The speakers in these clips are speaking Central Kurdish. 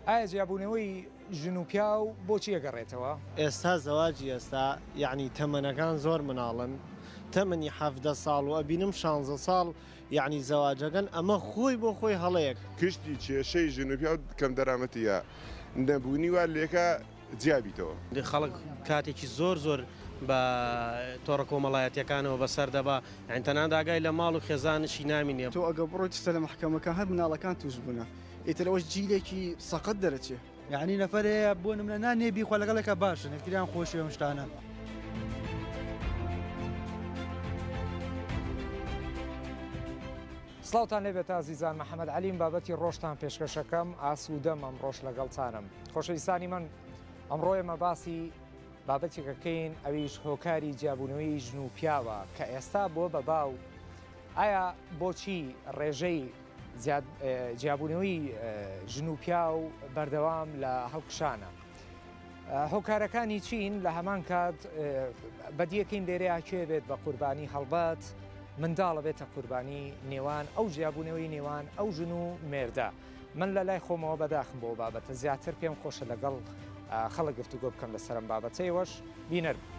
ئایا جیابوونەوەی ژن و پیاو بۆچی ئەگەڕێتەوە؟ ئێستا زەواجی ئێستا یەعنی تەمەنەکان زۆر مناڵن تەمەنی حەڤدە ساڵ و ئەبینم شانزە ساڵ یەعنی زەواجەکەن ئەمە خۆی بۆ خۆی هەڵەیەک. گشتی کێشەی ژن و پیاو کەم دەرامەتی یا نەبوونی وات لێکا جیا بیتەوە. خەڵک کاتێکی زۆر زۆر بە تۆڕە کۆمەڵایەتیەکانەوە بەسەر دەبا یانی تەنانەت ئاگای لە ماڵ و خێزانشی نامینێ. تۆ ئەگەر بڕۆیتە سەر مەحکەمەکان هەر مناڵەکان تووش بوونە ئیتر ئەوەش جیلێکی سەقەت دەرەچێ. یەعنی نەفەر هەیە بۆ نمونە نان نییە بیخوا لەگەڵێکە باشن یەکتریان خۆشی ئەم شتانە. سڵاوتان لێ بێت ئازیزان محەممەد علیم بابەتی ڕۆشتان پێشکەشەکەم ئاسوودەم ئەم ڕۆژ لەگەڵتانم خۆشەویستانی من ئەمڕۆێمە باسی بابەتێکەکەین ئەویش هۆکاری جیابوونەوەی ژن و پیاوە کە ئێستا بۆ بەبا و ئایا بۆچی ڕێژەی جیابوونەوەی ژن و پیاو بەردەوام لە هەڵکشانە؟ هۆکارەکانی چین لە هەمان کات بەدیەکەین لێرەیە کێ بێت بە قوربانی هەڵبەت منداڵە بێتە قوربانی نێوان ئەو جیابوونەوەی نێوان ئەو ژن و مێردە. من لە لای خۆمەوە بەداخم بۆ ئەو بابەتە زیاتر پێم خۆشە لەگەڵ خەڵک گفتوگۆ بکەم لەسەر ئەم بابەتە ئێوەش بینەر بن.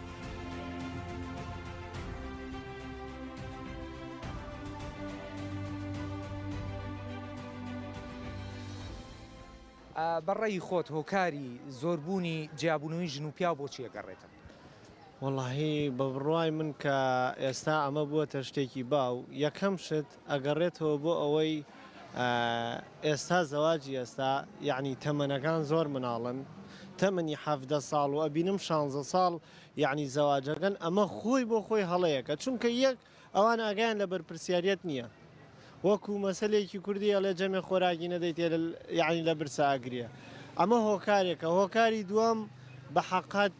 بە ڕێی خۆت هۆکاری زۆربوونی جیابوونەوەی ژن و پیاو بۆچی ئەگەڕێتن؟ وەڵاهی بە بڕوای من کە ئێستا ئەمە بووەتە شتێکی باو یەکەم شت ئەگەڕێتەوە بۆ ئەوەی ئێستا زەواجی ئێستا یەعنی تەمەنەکان زۆر مناڵن تەمەنی حەڤدە ساڵ و ئەبینم شانزە ساڵ یەعنی زەواجەکەن ئەمە خۆی بۆ خۆی هەڵەیەکە چونکە یەک ئەوان ئاگایان لە بەرپرسیاریەت نیە وەکو مەسەلێکی کوردی ئەڵێ جەمێ خۆراکی نەدەیتێ یەعنی لە برسا ئەگریە ئەمە هۆکارێکە هۆکاری دووەم بەحەقەت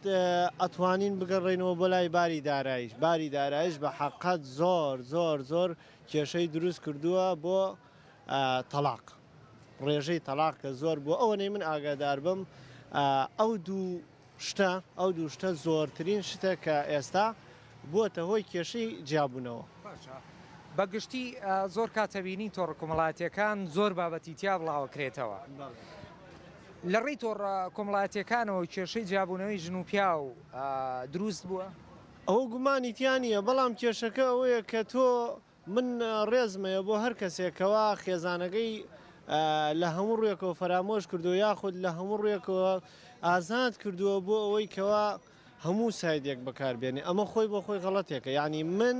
ئەتوانین بگەڕێینەوە بۆ لای باری دارایش باری دارایش بە حەقەت زۆر زۆر زۆر کێشەی دروست کردووە بۆ تەلاق ڕێژەی تەلاق کە زۆر بۆ ئەوەنەی من ئاگادار بم ئەو دوو شتە ئەو دوو شتە زۆرترین شتە کە ئێستا بووەتە هۆی کێشەی جیابوونەوە. بە گشتی زۆر کات ئەبینین تۆڕە کۆمەڵایەتییەکان زۆر بابەتی تیا بڵاوەکرێتەوە لە ڕێی تۆڕە کۆمەڵایەتییەکانەوە کێشەی جیابوونەوەی ژن و پیاو دروست بووە؟ ئەوە گومانی تیا نییە، بەڵام کێشەکە ئەوەیە کە تۆ من ڕێزمەیە بۆ هەر کەسێک کەوا خێزانەکەی لە هەموو ڕوێکەوە فەرامۆش کردووە یاخود لە هەموو ڕوێکەوە ئازاد کردووە بۆ ئەوەی کەوا هەموو سایدێک بەکاربێنێ ئەمە خۆی بۆ خۆی غەڵەتێکە یعنی من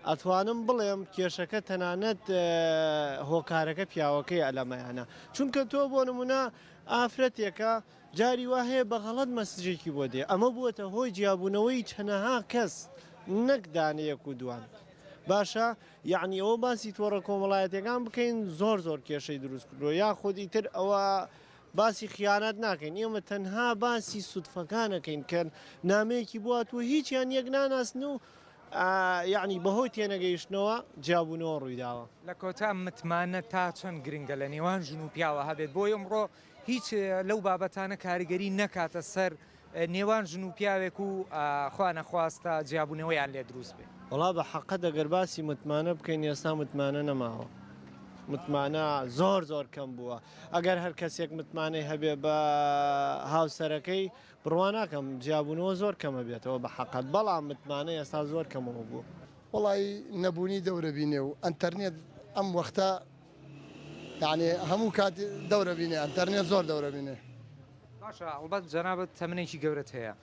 ئەتوانم بڵێم کێشەکە تەنانەت هۆکارەکە پیاوەکەی ئەلەمەیانە چونکە تۆ بۆ نمونە ئافرەتێکە جاری وا هەیە بە غەڵەت مەسجێکی بۆ دێ، ئەمە بووەتە هۆی جیابوونەوەی چەنەها کەس نەک دانەیەک و دوان. باشە یەعنی ئەوە باسی تۆڕە کۆمەڵایەتیەکان بکەین زۆر زۆر کێشەی دروست کردووە یاخود ئیتر ئەوە باسی خیانەت ناکەین ئێمە تەنها باسی سودفەکانەکەین کە نامەیەکی بواتوە هیچیان یەک ناناسن و یعنی بەهۆی تێنەگەیشتنەوە جیابوونەوە ڕوویداوە. لە کۆتا متمانە تا چەند گرنگە لە نێوان ژن و پیاوە هەبێت بۆ ئەمڕۆ هیچ لەو بابەتانە کاریگەری نەکاتە سەر نێوان ژن و پیاوێک و خوا نەخواستە جیابوونەوەیان لێ دروست بێ. وەڵا بە حەقت ئەگەر باسی متمانە بکەین ئێستا متمانە نەماوە متمانە زۆر زۆر کەم بووە ئەگەر هەر کەسێک متمانەی هەبێ بە هاوسەرەکەی بڕوا ناکەم جیابوونەوە زۆر کەمە بێتەوە بە حەقت بەڵام متمانە ئێستا زۆر کەمەوە بوو. وەڵایی نەبوونی دەورە بینێ و ئەنتەرنێت ئەم وەختە یانی هەموو کات دەورە بینێ ئەنتەرنێت زۆر دەورە بینێ. باشە ئەڵبەت جەنابت تەمنێکی گەورەت هەیە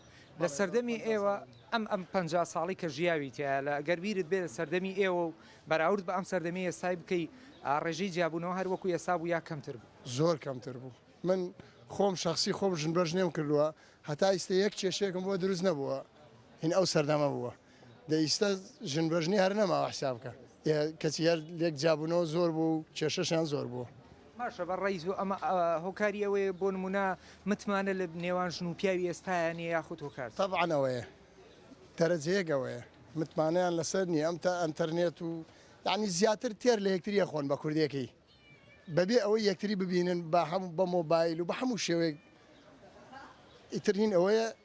لە سەردەمی ئێوە ئەم ئەم پەنجا ساڵی کە ژیاویتە لە گەر بیرت بێ لە سەردەمی ئێوە و بەراورد بە ئەم سەردەمی ئێستای بکەی ئا ڕێژەی جیابوونەوە هەر وەکو ئێستا بوو یا کەمتر بوو؟ زۆر کەمتر بوو من خۆم شەخسی خۆم ژنبەژنێم کردووە هەتا ئیستە یەک کێشەیەکم بۆ دروست نەبووە هین ئەو سەردەمە بووە دە ئیستا ژن بەژنی هەر نەماوە حساب کە کەچی هەر لێک جابوونەوە زۆر بوو کێشەشان زۆر بوو. باشە بە ڕای زوو ئەمە هۆکاری ئەوەیە بۆ نمونە متمانە لە نێوان ژن و پیاوی ئێستایا نیە یاخود هۆکار. تەبعەن ئەوەیە دەرەجە یەک ئەوەیە متمانەیان لەسەر نیە ئەم تا ئەنتەرنێت و یانی زیاتر تێر لە یەکتری ئەخۆن بە کوردێکی بەبێ ئەوەی یەکتری ببینن بە هەموو بە مۆبایل و بە هەموو شێوەیەک ئیتر هین ئەوەیە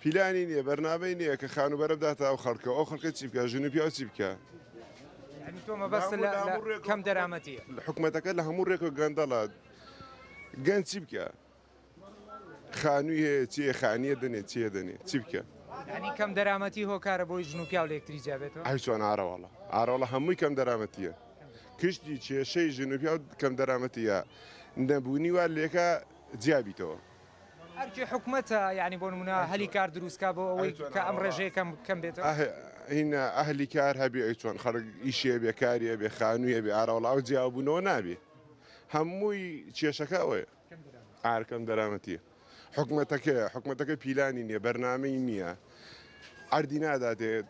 پیلانی نیە بەرنامەی نیە کە خانوبەرە بداتە ئەو خەڵکە و ئەو خەڵکە چی بکا ژن و پیاو چی بکا یانی تۆ مەبەست لە هەموو ڕێک کەم دەرامەتی حکومەتەکە لە هەموو ڕێک و گەندەڵە گەن چی بکە خانووی هەیە چیە خانیە دەنێ چیە دەنێ چی بکە ینی کەم دەرامەتی هۆکارە بۆی ژن و پیاو لەکتری جابێتەوە ئەی چۆن ئارەواڵە ئارۆڵە هەمووی کەم دەرامەتیە کشتی کێشەی ژن و پیاو کەم دەرامەتیە نەبوونی وا لێکە جیابیتەوە ئەرکی حکومەتە یانی بۆ نمونە هەلی کار دروست کا بۆ ئەوەی کە ئەم ڕێژەیە کەم کەم بێتەوە هینە ئەهلی کار هەبێ ئەی چۆن خەرک ئیشێ بێ کاریە بێ خانوویە بێ ئاراوڵاو جیابوونەوە نابێ هەمووی کێشەکە ئەوەیە ئارکەم دەرامەتیە حکومەتەکە حکومەتەکە پیلانی نییە بەرنمەی نییە ئەردی ناداتێت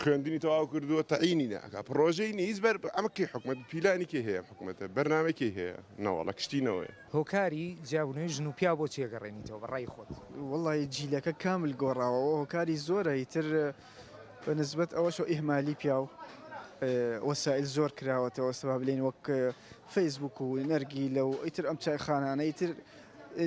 خوێندنی تەواو کردووە تەعینی ناکە پڕۆژەی نیز بەر ئەمە کەی حکومت پیلانی کێ هەیە حکومەتە بەرنامەی کەی هەیە نەوەڵە کشتینەوەی هۆکاری جیابونەوەی ژن و پیاو بۆ چیە گەڕێنیتەوە بە ڕای خۆت وەڵی جیلەکە کامل گۆڕاوە هۆکاری زۆرە ئیتر بە نسبەت ئەوەشەوە ئیهمالی پیاو وەسائل زۆر کراوەتەوە سەبا بلێن وەک فەیسبوک و نەرگی لە و ئیتر ئەم چای خانانە ئیتر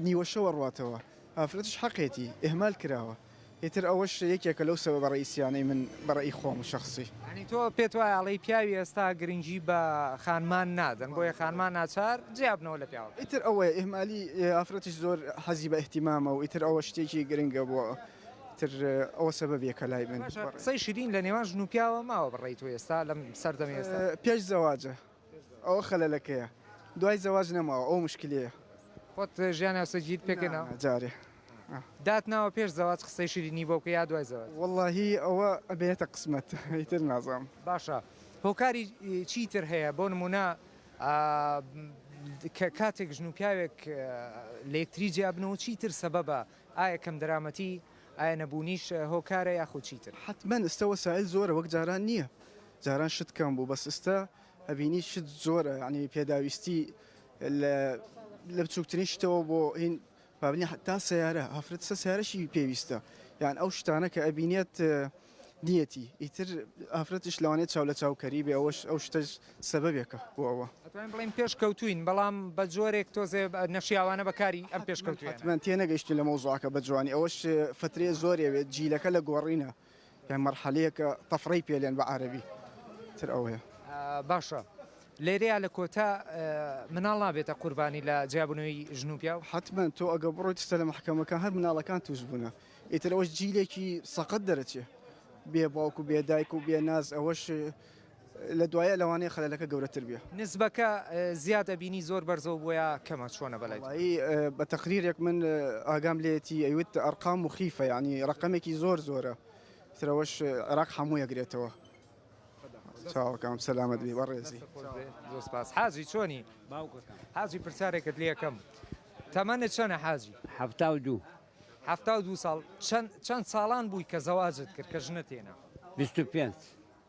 نیوەشەوە ڕاتەوە ئافرەتش حەقێتی ئهمال کراوە ئیتر ئەوەش یەکێکە لەو سەبەبە ڕەئیسیانەی من بە ڕەئی خۆم شەخسی. یانی تۆ پێت وایە ئەڵێی پیاوی ئێستا گرنگی بە خانمان نادەن بۆیە خانمان ناچار جیابنەوە لە پیاوەکان. ئیتر ئەوەیە ئیهمالی ئافرەتیش زۆر حەزی بە ئیهتیمامە و ئیتر ئەوە شتێکی گرنگە بۆ ئیتر ئەوە سەبەبێکە لای من. باشە قسەی شیرین لە نێوان ژن و پیاوە ماوە بە ڕەئی تۆ ئێستا لەم سەردەمی ئێستا؟ پیش زواج ئەوە خەلەلەکەیە دوای زەواج نەماوە ئەو مشکلیە. خۆت ژیان هاوسەرگیریت پێکەناوە؟ نا جارێ. دات ناوە پێش زەواج قسەی شیرینی بۆ بکە یا دوای زەواج؟ وەڵاهی ئەوە ئەبێتە قسمەت ئیتر نازانم. باشە هۆکاری چی تر هەیە بۆ نمونە کە کاتێک ژن و پیاوێک لە یەکتری جیا بن و چی تر سەبەبە ئایا کەم دەرامەتی ئایا نەبوونیش هۆکارە یاخود چی تر؟ حەتمەن ئستە وەسایل زۆرە وەک جاران نیە جاران شت کەم بوو بەس ئستا ئەبینی شت زۆرە یعنی پێداویستی لە لە بچووکترین شتەوە بۆ هین بابنی تا سیارە هەفرەت سە سیارەشی پێویستە یان ئەو شتانە کە ئەبینێت نیەتی ئیتر ئافرەتش لەوانێت چاو لە چاوکەری بێ ئەوەش ئەو شتە سەبەبێکە بۆ ئەوە بڵین پێش کەوتوین بەڵام بە جۆرێک تۆزێ نەشیاوانە بەکاری ئەم پێش کەوتوێت من تێ نەگەشتین لە مەوزوعکە بە جوانی ئەوەش فترێ زۆرێوێت جیلەکە لە گۆڕینە. یان مەرحەلەیەک تەفرەی پێلێن بە عارەبی تر ئەوەیە. باشە لێرەیا لە کۆتا مناڵ نابێتە قوربانی لە جیابونەوەی ژن و پیاو؟ حەتمەن تۆ ئەگە بڕۆیت ستە لە مەحکەمەکان هەر مناڵەکان توش بونە ئیتر ئەوەش جیلێکی سەقەت دەرەچێ بێ باوک و بێ دایک و بێ ناز ئەوەش لە دوایە لەوانەیە خەلەلەکە گەورەتر بێ. نسبەکە زیاد ئەبینی زۆر بەرزەو بۆ یا کەمە چۆنە بەلای تۆ؟ وەڵایی بە تەقریرێک من ئاگام لێیەتی ئەیوت ئەرقام موخیفە یانی ڕەقەمێکی زۆر زۆرە ئیتر ئەوەش عێراق هەموو ئەگرێتەوە. چاوەکەم سەلامەت بی بەڕێزی. دەست خۆش بێ زۆر سپاس. حاجی چۆنی؟ باوکەکەم. حاجی پرسیارێکت لێ ئەکەم تەمەنت چەنە حاجی؟ حەفتا و دوو. حەفتا و دوو ساڵ چەن چەن ساڵان بووی کە زەواجت کرد کە ژنت هێنا؟ بیست و پێنج.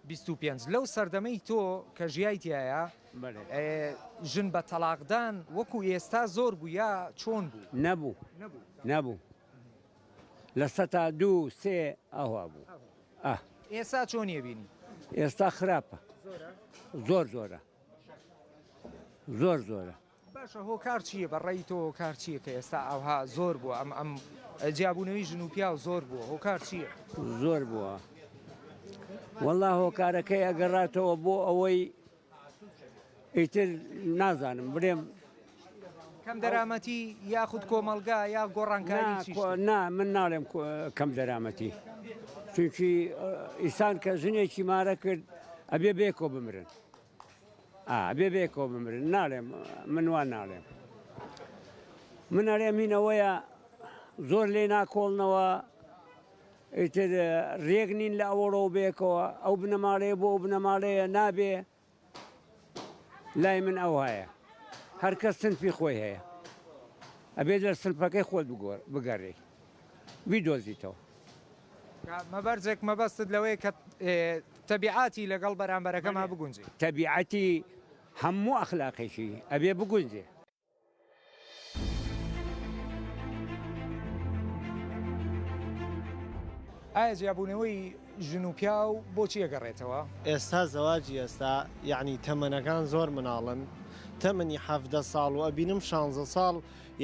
بیست و پێنج، لەو سەردەمەی تۆ کە ژیایتایە ژن بە تەڵاقدان وەکو ئێستا زۆر بوو یا چۆن بوو؟ نەبوو نەبوو لە سەتا دوو سێ ئەوا بوو. ئێستا چۆنی ئەبینی؟ ئێستا خراپە زۆر زۆرە زۆر زۆرە. باشە هۆکار چیە بە ڕەئی تۆ هۆکار چیە کە ئێستا ئاوها زۆر بوە ئەم ئەم جیابونەوەی ژن و پیاو زۆر بوە هۆکار چیە؟ زۆر بوە وەڵا هۆکارەکەی ئەگەڕاتەوە بۆ ئەوەی ئیتر نازانم برێم کەم دەرامەتی یاخود کۆمەلگا یا گۆڕانکاری چی؟ نا من ناڵێم کەم دەرامەتی چونکی ئیسان کە ژنێکی مارە کرد ئەبێ بێکۆ بمرن. ئا ئەبێ بەیەکەوە بمرن ناڵێم من وا ناڵێم من ئەرێ مینەوەیە زۆر لێ ناکۆڵنەوە ئیتر ڕێک نین لە ئەوەڕۆ بێکەوە ئەو بنەماڵەیە بۆ ئەو بنەماڵەیە نابێ لای من ئەو هەیە هەرکەس سنفی خۆی هەیە ئەبێت لە سنفەکەی خۆت بگۆر بگەڕێ بیدۆزیتەوە. کە مەبەرجێک مەبەستت لەوەیە کە تەبیعاتی لەگەڵ بەرامبەرەکەما بگونجێ. تەبیعاتی هەموو ئەخلاقێکی ئەبێ بگونجێ. ئایا جیابوونەوەی ژن و پیاو بۆچی ئەگەڕێتەوە؟ ئێستا زەواجی ئێستا یەعنی تەمەنەکان زۆر مناڵن تەمەنی حەڤدە ساڵ و ئەبینم شانزە ساڵ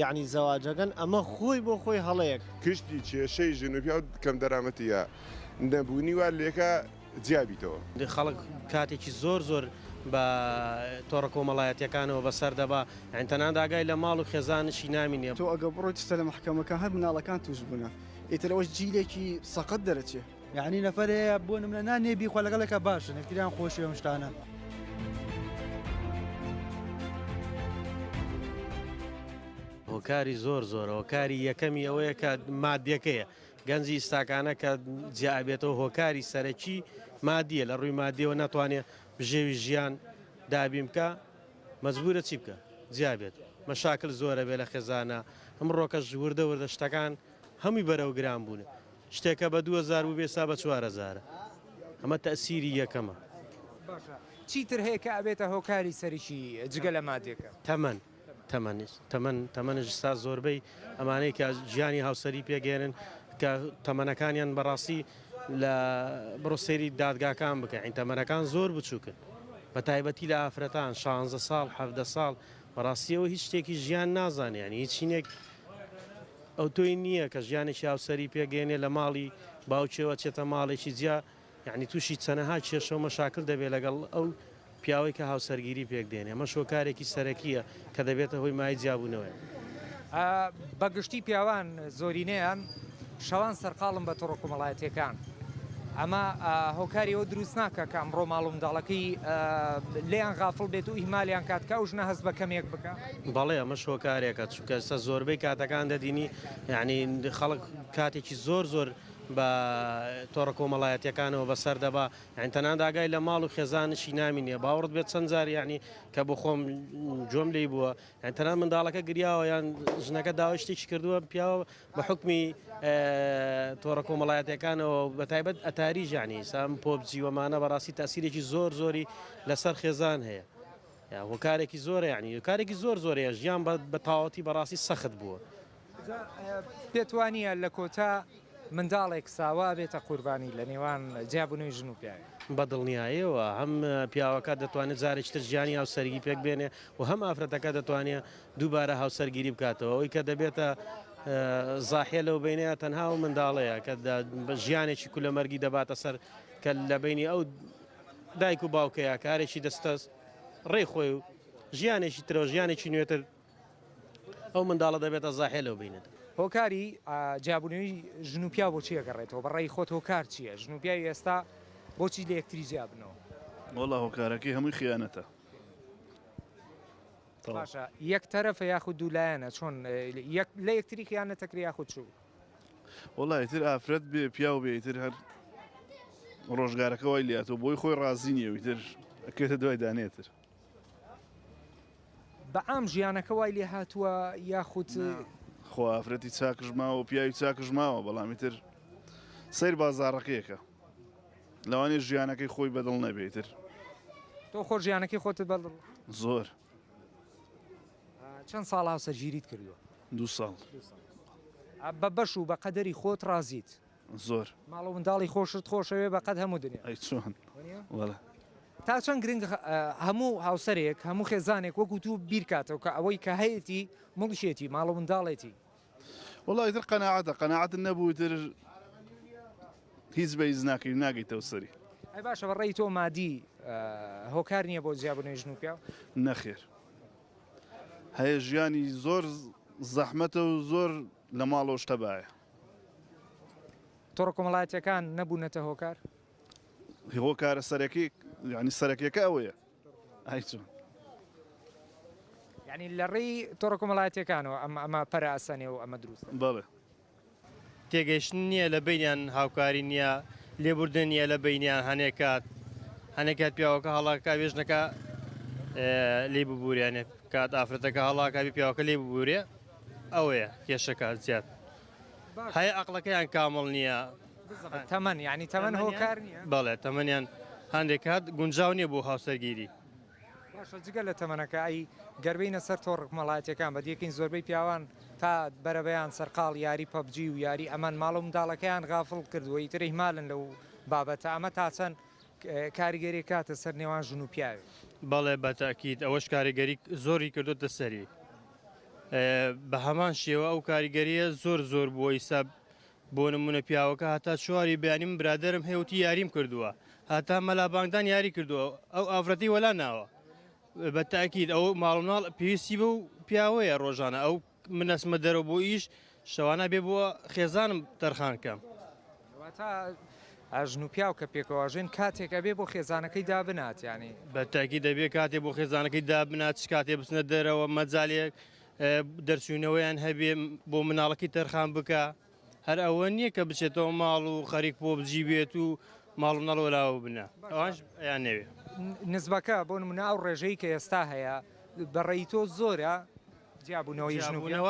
یەعنی زەواجەگەن ئەمە خۆی بۆ خۆی هەڵەیەک. کشتی کێشەی ژن و پیاو کەم دەرامەتی یا نەبوونی وات لێکا جیا بیتەوە. خەڵک کاتێکی زۆر زۆر بە تۆڕە کۆمەڵایەتیەکانەوە بەسەر دەبا یانی تەنانەت ئاگای لە ماڵ و خێزانشی نامینێ. تۆ ئەگە بڕۆیتە لە مەحکەمەکان هەر مناڵەکان توش بونە ئیتر ئەوەش جیلێکی سەقەت دەرەچێ. یەعنی نەفەر هەیە بۆ نمونە نان نییە بیخوا لەگەڵێکا باشن یەکتریان خۆشی ئەم شتانە. هۆکاری زۆر زۆرە هۆکاری یەکەمی ئەوەیە کە مادیەکەیە گەنجی ئستاکانە کە جیابێتەوە هۆکاری سەرەکی مادیە لە ڕووی مادیەوە ناتوانێت بژێوی ژیان دابیم بکە مەجبورە چی بکە جیابێت مەشاکل زۆرە بێ لە خێزانە ئەم ڕۆکەش وردە وردە شتەکان هەمووی بەرەو گران بوونە شتێک کە بە دوو هەزار بوو بێ ئێستا بە چوار هەزارە ئەمە تەئسیری یەکەمە. باشە چی تر هەیە کە ئەبێتە هۆکاری سەرکی جگە لە مادیەکە؟ تەمەن تەمەن تەمەن تەمەنش ئێستا زۆربەی ئەمانەی کە ژیانی هاوسەری پێک ئێنن کە تەمەنەکانیان بەڕاستی لە بڕۆ سەیری دادگاکان بکە ئەی تەمەنەکان زۆر بچووکن بە تایبەتی لە ئافرەتان شانزە ساڵ حەڤدە ساڵ بەڕاستی ئەو هیچ شتێکی ژیان نازانێ یانی هیچ چینێک ئەوتۆی نییە کە ژیانێکی هاوسەری پێگەێنێ لە ماڵی باوکێوە چێتە ماڵێکی جیا یعنی تووشی چەنەها کێشەو مەشاکل دەبێت لەگەڵ ئەو پیاوەی کە هاوسەرگیری پێک دێنێ مەش هۆکارێکی سەرەکیە کە دەبێتە هۆی مای جیابوونەوەێ. بەگشتی پیاوان زۆرینەیان شەوان سەرقاڵم بە تۆڕە کۆمەڵایەتەکان ئەمە هۆکاری ئەو دروست ناکە کە ئەمڕۆ ماڵ و منداڵەکەی لیان غافڵ بێت و ئیمالیان کات کە ئەو ژنە هەست بە کەمێک بکە بەڵێ ئەمە شۆکارێکە چکەسە زۆربەی کاتەکان دەدینی یعنی خەڵک کاتێکی زۆر زۆر بە تۆڕە کۆمەڵایەتەکانەوە بەسەر دەبا یعنی تەنان داگای لە ماڵ و خێزانشی نامینێ باوەڕت بێت چەند جار یعنی کە بۆ خۆم جۆم لی بووە یان تەنها منداڵەکە گریاوە یان ژنەکە داوای شتێکی کردووە پیاوە بە حکمی تۆڕە کۆمەڵایەتەکانەوە بە تایبەت ئەتاری ژانی سام پۆبجیوەمانە بەڕاستی تاسیرێکی زۆر زۆری لەسەر خێزان هەیە هۆکارێکی زۆرە یعنی کارێکی زۆر زۆرەیە ژیان بە تاوەتی بەڕاستی سەخت بووە. جا پێت وانیە لە کۆتا منداڵێک ساوا بێتە قوربانی لە نێوان جیابونەوەی ژن و پیاوێک؟ بە دڵنیایەوە هەم پیاوەکە دەتوانێت جارێکی تر ژیانی هاوسەرگی پێک بێنێ و هەم ئافرەتەکە دەتوانێت دووبارە هاوسەرگیری بکاتەوە ئەوی کە دەبێتە زاحە لەو بینەیە تەنها و منداڵەیە کە ژیانێکی کولەمەرگی دەباتە سەر کە لە بینی ئەو دایک و باوکەیە کارێکی دەستەست ڕێ خۆی و ژیانێکی ترەوە ژیانێکی نوێتر ئەو منداڵە دەبێتە زاحێ لەو بینەر. هۆکاری جیابونەوی ژن و پیاو بۆ چی ئەگەڕێتەوە بە ڕای خۆت هۆکار چیە ژن و پیاوی ئێستا بۆ چی لە یەکتری جیابنەوە؟ وەڵا هۆکارەکەی هەمووی خیانەتە تەواو. باشە یەک تەرەفە یاخود دوو لایەنە چۆن یەک لە یەکتری خیانەت ئەکرێ یاخود چ؟ وەڵا ئیتر ئافرەت بێ پیاو بێ ئیتر هەر ڕۆژگارەکە وای لاتوە بۆی خۆی ڕازی نیە و ئیتر ئەکرێتە دوای دانێتر. بە عام ژیانەکە وای لێ هاتووە یاخود خۆ ئافرەتی چاکش ماوە و پیاوی چاکش ماوە بەڵامی تر سیر بازارڕەکەیەکە لەوانێ ژیانەکەی خۆی بەدڵ نەبێتتر تۆ خۆ ژیانەکەی خۆت بەڵ زۆر چەند ساڵ هاوسەرگیریت کردووە دو ساڵ بە بەش و بە قەدەری خۆت ڕازیت زۆر. ماڵ و منداڵی خۆشت خۆشەوێ بە قەد هەموو دنیا. ئەی چۆن وەلا. تا چەند گرنگ هەموو هاوسەرێک هەموو خێزانێک وەکو تو بیرکاتەوە کە ئەوەی کە هەیەتی مڵکێتی ماڵ و منداڵێتی. وەڵا ئیتر قەناعەتە قەناعەتت نەبوو ئیتر هیچ بەیز ناکەی ناگەیتەوە سەری. ئەی باشە بە ڕێی تۆ مادی هۆکار نییە بۆ جیابونەوەی ژن و پیاو؟ نەخێر هەیە ژیانی زۆر زەحمەتە و زۆر لە ماڵەوەش تەبایە. تۆڕە کۆمەڵایەتیەکان نەبوونەتە هۆکار؟ هۆکارە سەرەکی یعنی سەرەکیەکە ئەوەیە ئایچون یعنی لە ڕێی تۆڕە کۆمەڵایەتەکانەوە ئەمە ئەمە پەراسەنێ و ئەمە دروست بەڵێ تێگەیشتن نییە لە بینیان هاوکاری نییە لێبوردن نیە لە بینیان هەنێکات هەنێکات پیاوەکە هەڵاکە بێژنەکە لی ببووریانێ کات ئافرەتەکە هەڵاکبی پیاوەکە لێ ببوورێ ئەوەیە کێشەکە زیاد هەیە ئەقڵەکەیان کامڵ نییە تەمەن یعنی تەمەن هۆکار نییە بەڵێ تەمەنیان هەندێک کات گونجاو نییە بۆ هاوسەرگیری باشە جگە لە تەمەنەکە ئەی گەربینە سەر تۆڕ کمەڵاتەکان بە دیەکەین زۆربەی پیاوان تا بەرەبەیان سەرقاڵ یاری پەبجی و یاری ئەمان ماڵ و منداڵەکەیان غافڵ کردوەی تری مالن لەو بابەتە ئەمە تا چەند کاریگەری کاتە سەر نێوان ژن و پیاوی بەڵێ بە تاکیت ئەوەش کاریگەری زۆری کردوتە سەری بە هەمان شێوە ئەو کاریگەریە زۆر زۆر بووە ئیستا بۆ نمونە پیاوەکە هەتا چواری بەیانی من برادرم هێوتی یاریم کردووە هەتا مەلا بانگدان یاری کردووە ئەو ئافرەتی وەلا ناوە بە تاکیید ئەو ماڵناڵ پێویستی بە و پیاوەیە ڕۆژانە ئەو منەسمە دەرە بۆ ئیش شەوانە بێ بۆ خێزانم تەرخان کەم. واتە ژن و پیاو کە پێکەوە ئەژین کاتێک ئەبێ بۆ خێزانەکەی دابنات یانی. بە تاکی دەبێ کاتێ بۆ خێزانەکەی دابنات چ کاتێ بچنە دەرەوە مەجالێک دەرچوینەوەیان هەبێ بۆ مناڵەکەی تەرخان بکە هەر ئەوە نییە کە بچێتەوە ماڵ و خەریک بۆ بجی بێت و ماڵ و مناڵ وەلاوە بنە ئەوانش یان نەوێ. نزبەکە بۆ نمونە ئەو ڕێژەی کە ئێستا هەیە بەڕێی تۆ زۆرە جیابوونەوەی ژن و پیاو؟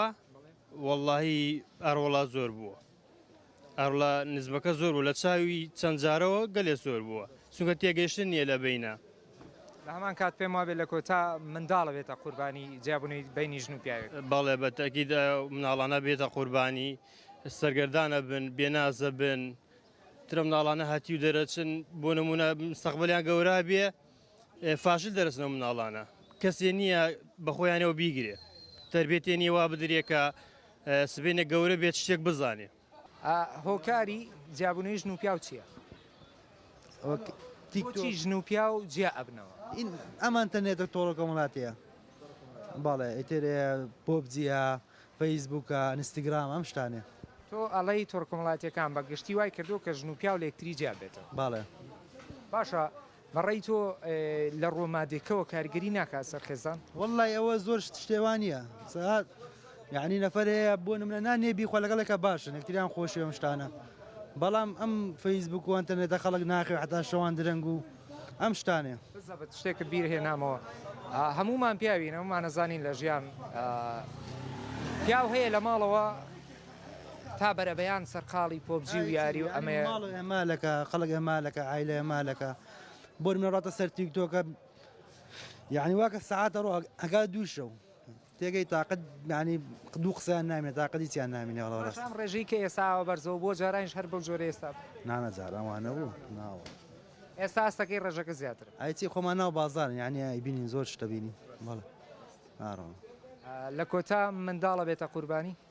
وەڵاهی ئەڕۆڵا زۆر بووە ئەڕڵا نزمەکە زۆر بوو لە چاوی چەند جارەوە گەلێ زۆر بووە چونکە تێگەشتن نیە لە بینە لە هەمان کات پێم وابێت لە کۆتا منداڵە بێتە قوربانی جیابوونی بینی ژن و پیاوێک بەڵێ بە تەکید مناڵانە بێتە قوربانی سەرگەردانە بن بێنازە بن ترە مناڵانە هەتی و دەرەچن بۆ نمونە سەقبلیان گەورا بێ فاشل دەرەچن ئەو مناڵانە کەسێ نییە بەخۆیانەوە بیگرێ تربێتێ نیە وا بدرێ کە سبێنە گەورە بێت شتێک بزانێ هۆکاری جیابوونەوەی ژن و پیاو چییە؟ تیکچی ژن و پیا و جیا ئەبنەوە ئەمان تەنێتە تۆڕە کۆمەڵاتەیە باڵێ ئیتر پۆبجیە فەیسبووکە ئەنستیگرام ئەم شتانێ تۆ ئەڵەی تۆڕ کۆمەڵاتەکان بە گشتی وای کردو کە ژن و پیاو لە یەکتری جیا بێتەوە باڵێ باشە بەڕای تۆ لە ڕووە مادیەکەوە کاریگەری ناکات سەر خێزان؟ وەڵڵای ئەوە زۆر شتێ وا نییە سەعات یعنی نەفەر هەیە بۆ نمرە نانێ بیخوا لەگەڵێکە باشن یەکتریان خۆشی ئەم شتانە بەڵام ئەم فەیسبوک و ئەتەنێتە خەڵک ناخێ حتا شەوان درەنگ و ئەم شتانێ بزەبت شتێکت بیر هێنامەوە هەمومان پیاوین هەمومانەزانین لە ژیان پیاو هەیە لە ماڵەوە تا بەرەبەیان سەرقاڵی پۆبجی و یاری و ئەمەیە. ماڵ ئێمالەکە خەڵک ئێمالەکە عایلە ئێمالەکە بۆر منەڕاتە سەر تیک تۆکە یعنی واکە سعاتە ڕۆ ئەگا دوو شەو تێگەی تااقت نانی دوو قسەیان نامێت تااقەتی چیان نامینێ ڕاستم ڕێژەی کە ئێساوە بەرزەوە بۆ جارانش هەر بەو جۆرە ئێستا نانە جارانوانە بوو ناوە ئێستا ئاستەکەی ڕێژەکە زیاتر ئایچی خۆمان ناو بازار یعنی بینین زۆر شتە بینین بەڵێ لە کۆتا منداڵە بێتە قوربانی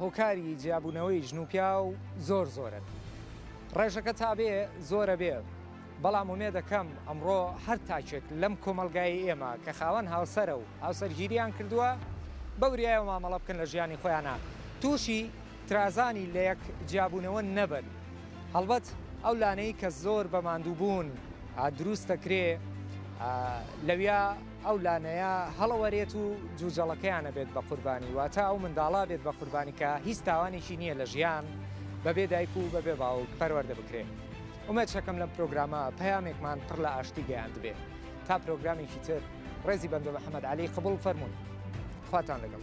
هۆکاری جیابوونەوەی ژن و پیاو زۆر زۆرن ڕێژەکە تا بێ زۆرە بێ بەڵام ومێدەکەم ئەمڕۆ هەر تاکێک لەم کۆمەلگای ئێمە کە خاوەن هاوسەرە و هاوسەرگیریان کردووە بەوریایەوە مامەڵە بکەن لە ژیانی خۆیانە تووشی ترازانی لە یەک جیابوونەوە نەبن هەڵبەت ئەو لانەی کە زۆر بە ماندووبوون دروست دەکرێ لەویا ئەو لانەیە هەڵەوەرێت و جوجەڵەکەیان ئەبێت بە قوربانی واتە ئەو منداڵە بێت بە قوربانی کە هیچ تاوانێکی نییە لە ژیان بەبێ دایک و بەبێ باوک پەروەردە بکرێت ئومێد شەکەم لەم پرۆگرامە پەیامێکمان پڕ لە ئاشتی گەیاندبێت تا پرۆگرامێکی تر ڕێزی بەندۆ محەممەد علی قبول فەرمونون خواتان لەگەڵ.